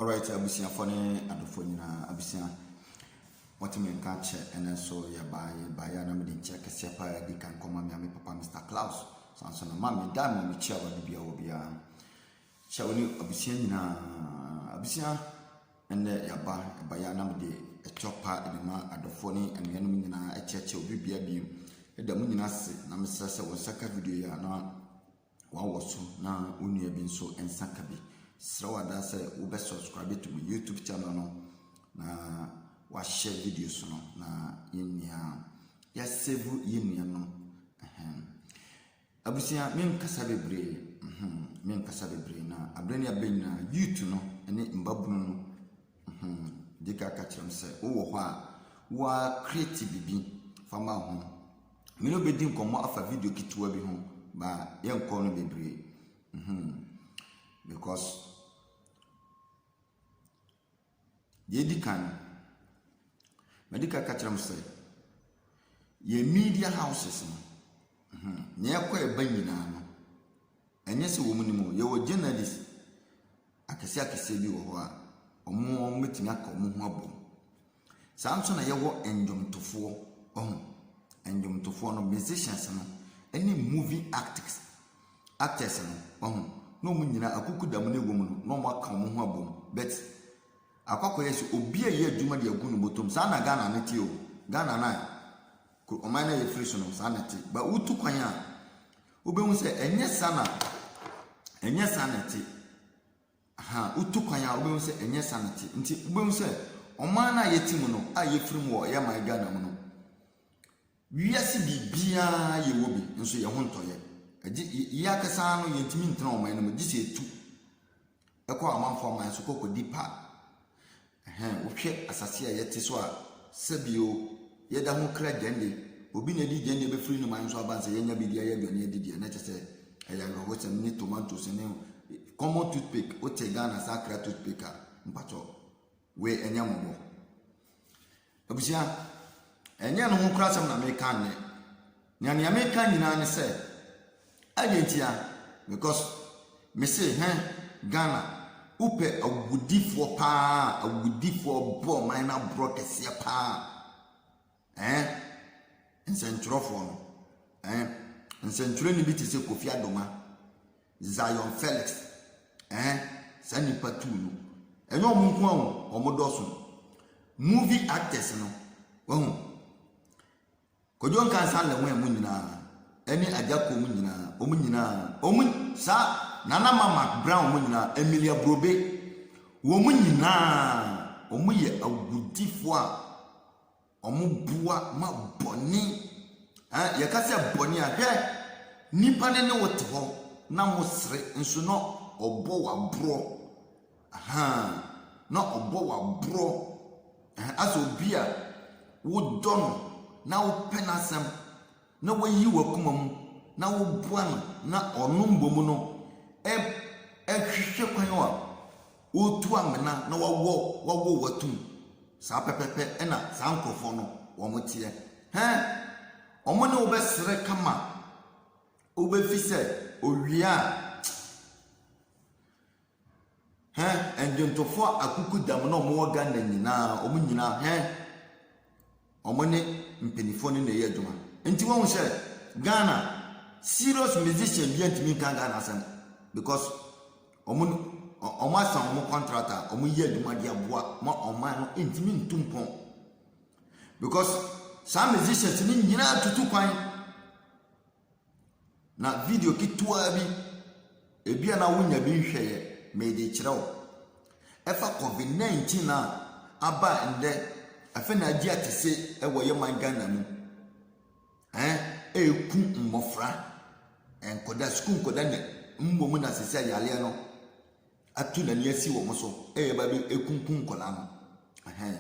Alright abusuafoɔ ne adɔfoɔ nyinaa abusua wɔte me nka kyɛ ɛnɛ nso yɛbaa yɛbaa yɛ na mede nkyɛ kɛseɛ paa adi kan kɔma me ame papa Mr. Klaus san so na ma me da ma mekyia wɔ bibia wɔ biara kyɛ wo ne abusua nyinaa abusua ɛnɛ yɛaba ɛba yɛ na mede ɛtɔ paa ɛde ma adɔfoɔ ne anuanom nyinaa ɛkyɛkyɛ obi bia biem ɛda mu nyinaa se na mesrɛ sɛ wɔn nsa ka video yɛ na wawɔ so na wo nua bi nso nsa ka bi. Serɛ wada sɛ wobɛ subscribe to me YouTube channel no na wahyɛ videos no na yɛn nyinaa yɛasave yɛn nua no. Abusua menkasa bebree mhm, menkasa bebree na abere ne abere nyinaa youth no ne mbabunu no Hmm, di ka ka kyerɛ m sɛ wowɔ hɔ a wa create bibi fa ma ho. Me ne wobɛdi nkɔmmɔ afa video ketewa bi ho ba yɛnkɔ no bebree. Hmm, because deɛ ɛdi kan no, madi ka ka kyerɛ m sɛ yɛ media houses no, hmm, nea ɛkɔ ɛba nyinaa no, ɛnyɛ sɛ wɔn nim o, yɛwɔ journalist Akɛseɛ akɛseɛ bi wɔ hɔ a, wɔn bɛtumi aka wɔn ho abom. Saa ara nso na yɛwɔ nnwomtofoɔ, wahu. Nnwomtofoɔ no, musicians no, ɛne movie actors, actors no, wahu. Na wɔn nyinaa akukuda mu na ɛwɔ mu no, na wɔaka wɔn ho abom. But akɔ akɔyɛ sɛ obi a ɛyɛ adwuma de agu ne bɔtɔm. Saa na Ghana no te o. Ghana no a Kɔ ɔman no a yɛfiri so no, saa na ɛte. Ba wotu kwan a, wobɛhu sɛ ɛnyɛ saa na ɛnyɛ saa na ɛte. Ha, wotu kwan a, wobɛhu sɛ ɛnyɛ saa na ɛte. Nti wobɛhu sɛ ɔman no a yɛte mu no, a yɛfiri mu wɔ yɛ man Ghana mu no, wiase biribiara yɛwɔ bi, nso yɛn ho ntɔyɛ. Ɛgye yɛ akasa no, yɛntumi ntena ɔman no mu, gye sɛ ɛtu. Ɛkɔ amanfo aman so kɔ kɔdi pa. Ɛhɛn, wohwɛ asase a yɛte so a, sɛbio, yɛda ho kra gyande. Obi na adi gyande bɛfiri ne man so aba nsɛ yɛanya biribi ayɛ aduane adi deɛ, na kyɛ sɛ ɛyɛ awerɛhosɛm ne tomatoes ne common toothpick, wote Ghana saa akra toothpick a, mpakyɛw. Wei ɛnyɛ mmɔbɔ. Abusua, ɛnyɛ no ho kora asɛm na meka nnɛ. Na nea meka nyinaa ne sɛ, ɛdeɛ ntia, because mese hɛ Ghana, wopɛ awudifoɔ paa, awudifoɔ bɔ ɔman no aborɔ kɛseɛ paa. Ɛɛ, nsɛntwerɛfoɔ no, ɛɛ, nsɛntwerɛni bi te sɛ Kofi Adoma, Zion Felix, ɛɛ, saa nnipa tuu no. Ɛnyɛ wɔn nko ara o, wɔn dɔso. Movie actors no, wahu. Kodwo Nkansa le wɔn mu nyinaa, ɛne Agya Kom nyinaa, wɔn nyinaa, wɔn saa Nana Ma Mark Brown wɔn nyinaa, Emilia Brobe, wɔn nyinaa, wɔn yɛ awudifoɔ a Wɔboa ma bɔne. Ɛɛ yɛka sɛ bɔne a, hwɛ! Nipa no ne wo te hɔ na mosere nso na ɔbɔ wo aborɔ. Ahaa, na ɔbɔ wo aborɔ. Asɛ obi a wodɔ no na wopɛ n'asɛm. na woyi w'akoma mu na woboa no na ɔno mmom no hwehwɛ kwan a ɔretu amena na wawɔ wawɔ w'atum. Saa pɛpɛpɛ na saa nkurɔfoɔ no wɔn teɛ. Hɛn, wɔn ne wobɛsere kama wobɛfi sɛ owia a Hɛn ndwontofo akukudam na wɔn wɔ Ghana nyina, wɔn nyina hɛn wɔn ne mpanyinfoɔ no na ɛyɛ adwuma. Nti wɔn sɛ Ghana serious musician bia ntumi nka Ghana asɛm because wɔn wɔn asa wɔn contract a wɔn yɛ adwuma de aboa ma ɔman no ntumi ntu mpɔn because saa musicians no nyinaa tutu kwan. Na video ketewaa bi, ebi a na wonya bi nhwɛeɛ, mede rekyerɛ wo. Ɛfa Covid 19 a aba a ɛndɛ afei na agye atese wɔ yɛ man Ghana mu. Ɛn, ɛreku mmɔfra, nkɔda, sukuu nkɔda ne mmom na sisi ayareɛ no ato n'ani asi wɔn so, ɛyɛ ba bɛ ɛkunkum nkɔla no. Ɛhɛn,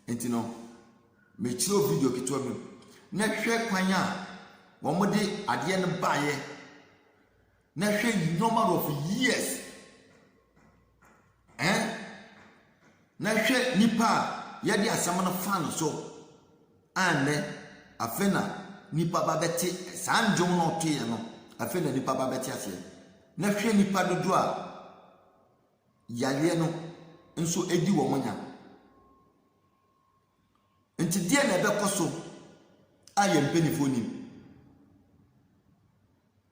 nti no. Mekyerɛw video ketewa bi mu na hwɛ kwan a wɔde adeɛ no baeɛ na hwɛ number of years ɛn eh? na hwɛ nipa a yɛde asɛm no fa no so annɛ afei na nipa ba bɛte saa ndwom na ɔtoeɛ no afei na nipa ba bɛte aseɛ na hwɛ nipa dodoɔ a yareɛ no nso edi wɔn nya. Enti deɛn na ɛbɛkɔ so a yɛn mpanimfoɔ nim?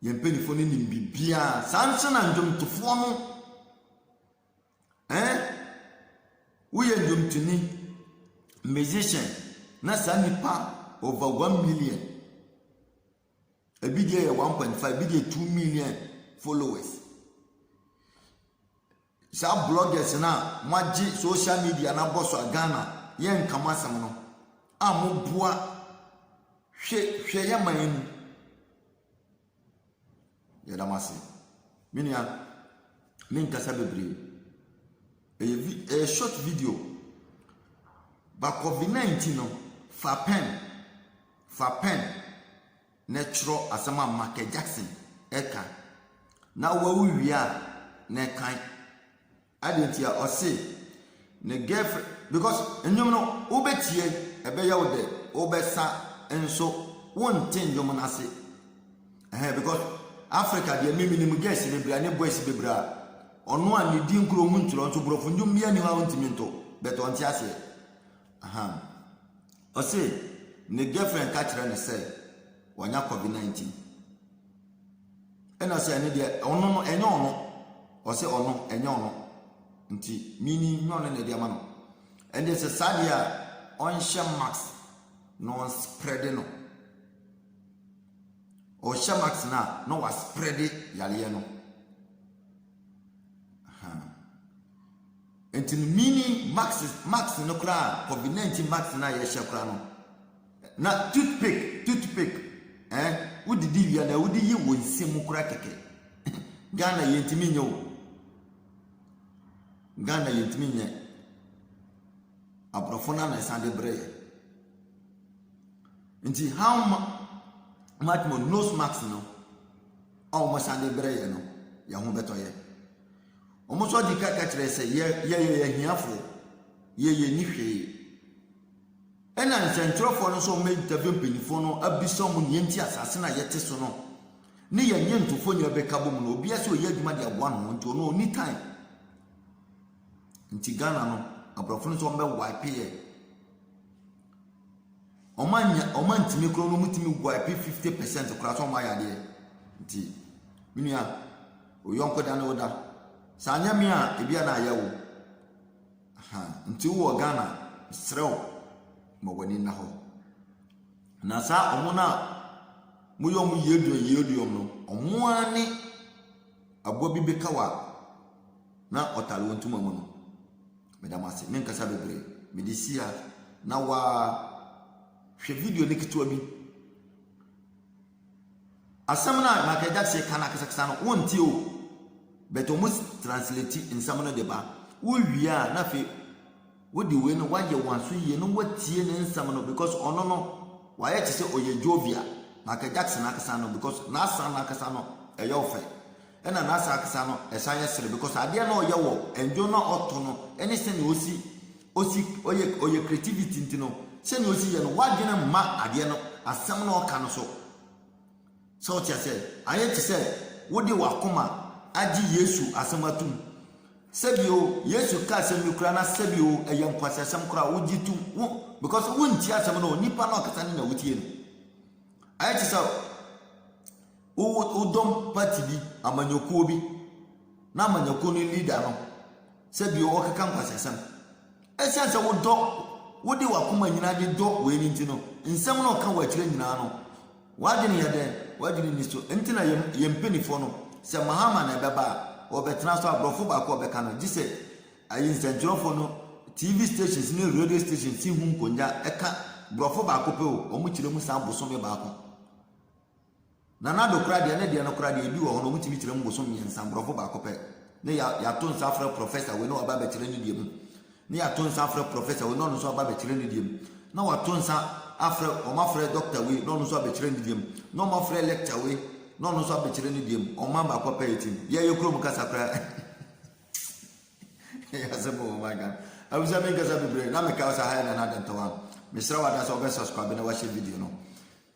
Yɛn mpanimfoɔ no nim biribiara. Saa nso na nnwomtofoɔ no ɛn woyɛ nnwomtoni musician na saa nipa over one million ebi deɛ yɛ one point five ebi deɛ two million followers. Saa bloggers no a mo agye social media no abɔ so a Ghana yɛ nka mo asɛm no a mo boa hwɛ hwɛ yɛ man mu. Yɛda mo ase. Me nua me nkasa bebree. Ɛyɛ vi ɛyɛ short video. Ba COVID-19 no fa pen fa pen na twerɛ asɛm a Michael Jackson ɛka na wawu wie a na ɛkan adeɛ nti a ɔse ne girlfriend because nnwom no wobɛtie ɛbɛyɛ wo dɛ wobɛsa nso wonte nnwom no ase ɛhɛn because Africa deɛ me menim girls bebree a ne boys bebree a ɔno a ne din kuro ho nkyerɛ nso borɔfo nnwom bi ani hɔ a wontumi nto but ɔnte aseɛ ahan Ɔse ne girlfriend ka kyerɛ no sɛ wanya covid 19 ɛna ɔse ɛno deɛ ɔno no ɛnyɛ ɔno ɔse ɔno ɛnyɛ ɔno nti mini nyɛ ɔno na ɛde ama no ɛnde sɛ saa deɛ a ɔnhyɛ max na ɔnsprɛde no ɔhyɛ max no a na wasprɛde yareɛ no Nti no meaning mask mask no koraa a covid 19 mask no a yɛhyɛ koraa no na toothpick toothpick eh wodidi wia na wode yi wo nsa mu koraa kɛkɛ Ghana yɛntumi nyɛ o Ghana yɛntumi nyɛ aborɔfo no na ɛsan de brɛ yɛ nti how much more nose mask no a wɔsan de brɛ yɛ no yɛn ho bɛtɔ yɛ Wɔn nso adi ka ka kyerɛ sɛ yɛ yɛyɛ ahiafoɔ, yɛ yɛ ni hwee. Ɛna nsɛntwerɛfoɔ no nso wɔn interview mpanyinfoɔ no abisa wɔn nea nti asase no a yɛte so no ne yɛn nyentofo nyinaa bɛka bɔ mu no obiara sɛ ɔyɛ adwuma de aboa ne ho nti ɔno ɔni time. Nti Ghana no aborɔfo no nso wɔn bɛ wipe yɛ. Wɔn annya wɔn antumi koraa no wɔtumi gu a ɛpe fifty percent koraa sɛ wɔayɛ adeɛ nti me nua wo yɔnko da ne wo da sɛ anyɛ me a ebi a na ayɛ wo nti wowɔ Ghana serɛ wo ma w'ani nna hɔ na saa wɔn no a moyɛ wɔn yie duom yie duom no wɔn ara ne aboa bi bɛka wa na ɔtare wɔn ntoma mu no. Meda mo ase. Menkasa bebree. Mede si ha na waa hwɛ video no ketewa bi. Asɛm no a Michael Jackson ka no akasakasa no, wontie o. But wɔn translate nsɛm no de ba. Wowie a na afei wode wei no woayɛ wɔn aso yie na woatie ne nsɛm no because ɔno no wayɛ te sɛ ɔyɛ Jovia. Michael Jackson ankasa no because n'asan no ankasa no ɛyɛ ɔfɛ. Ɛna n'asa akasa no ɛsan yɛ sere because adeɛ na ɔyɛ wɔ ndwon na ɔto no ɛne sɛnea ɔsi ɔsi ɔyɛ ɔyɛ creativity nti no sɛnea ɔsi yɛ no w'adwene mma adeɛ no asɛm na ɔka no so sɛ ɔte asɛ ayɛ te sɛ wode w'akoma agye Yesu asɛm atum sɛbio Yesu ka asɛm bi koraa na sɛbio ɛyɛ nkwasi asɛm koraa wogye tum wo because wontie asɛm no nipa na ɔkasa ne na wotie no ayɛ te sɛ Wo wo dɔm party bi, amanyɔkuo bi, na amanyɔkuo no leader no sɛ bi ɔkeka nkwasasɛm. Ɛsiane sɛ wo dɔ, wo de wakoma nyinaa de dɔ wei no nti no, nsɛm no ɔka wɔ akyire nyinaa no, w'adwene yɛ dɛn? W'adwene ni so. Nti na yɛn yɛn mpanifoɔ no, sɛ Mahama na ɛbɛba a, ɔbɛtena so a borɔfo baako a ɔbɛka no, gye sɛ ayi nsɛntwerɛfoɔ no, TV stations ne radio stations si ho nkongya ka borɔfo baako pɛ o, wɔn kyerɛ mu saa bosome baako. Nana Addo koraa deɛ ne deɛ no koraa deɛ ebi wɔ hɔ no wɔtumi kyerɛ mu bosom mmiɛnsa borɔfo baako pɛ ne ya yato nsa afrɛ professor wei na waba abɛkyerɛ ne deɛ mu ne yato nsa afrɛ professor wei na ɔno nso aba abɛkyerɛ ne deɛ mu na wato nsa afrɛ wɔn afrɛ doctor wei na ɔno nso abɛkyerɛ ne deɛ mu na wɔn afrɛ lecture wei na ɔno nso abɛkyerɛ ne deɛ mu wɔn mma baako pɛ yɛ tim yɛyɛ kurom kasa koraa yɛ asɛm wɔ wɔn aga abusua mi nkasa bebree na meka ɔsa ha yɛ nana adantɔwa mesrɛ wɔ adasa ɔbɛ subscribe na wahyɛ video no.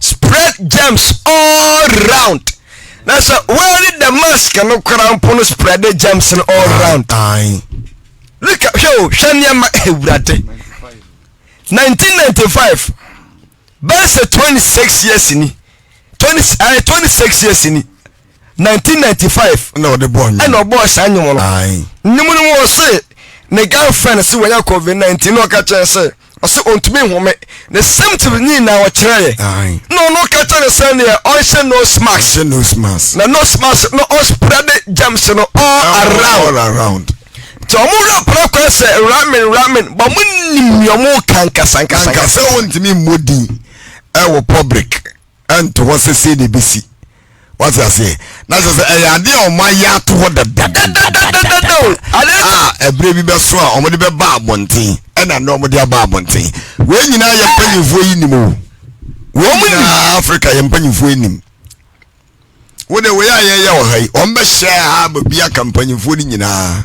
spread germs all round na sɛ wɔyɛ the mask no koraa mpo no spread the germs no all ah, round look hwɛ o hwɛ nneɛma awurade 1995 bɛsɛ 26 years ni 20 uh, 26 years ni nineteen ninety five ɛna ɔde bɔɔ nnwom ɛna ɔbɔɔ saa nnwom no ae nnwom no mu ɔse ne girlfriend se wɔnya covid nineteen na ɔka kyerɛ sɛ ɔse ɔntumi nhome ne symptoms ne nyinaa ɔkyerɛ yɛ ae na ɔno ka kyerɛ ne sɛ neɛ ɔnhyɛ nose mask ɔhyɛ nose mask na nose mask no ɔspread germs no all around all around nti ɔmo wura pra kwan sɛ ramen ramen bɔ mo nim nea ɔmo ka nkasankasankasa sɛ wɔntumi mmɔ din ɛwɔ public ɛnto hɔ sɛ sei na ɛbɛsi wate aseɛ na kyɛ sɛ ɛyɛ adeɛ a ɔma yɛ ato hɔ dadadadadadada o a ɛberɛ bi bɛso a ɔmode bɛba abɔnten ɛna nnɛ ɔmode aba abɔnten wei nyinaa yɛ mpanyimfoɔ yi nim o wɔn nyinaa afrika yɛ mpanyimfoɔ nim wode wei a yɛyɛ wɔ ha yi ɔmbɛhyɛ ha baabi aka mpanyimfoɔ no nyinaa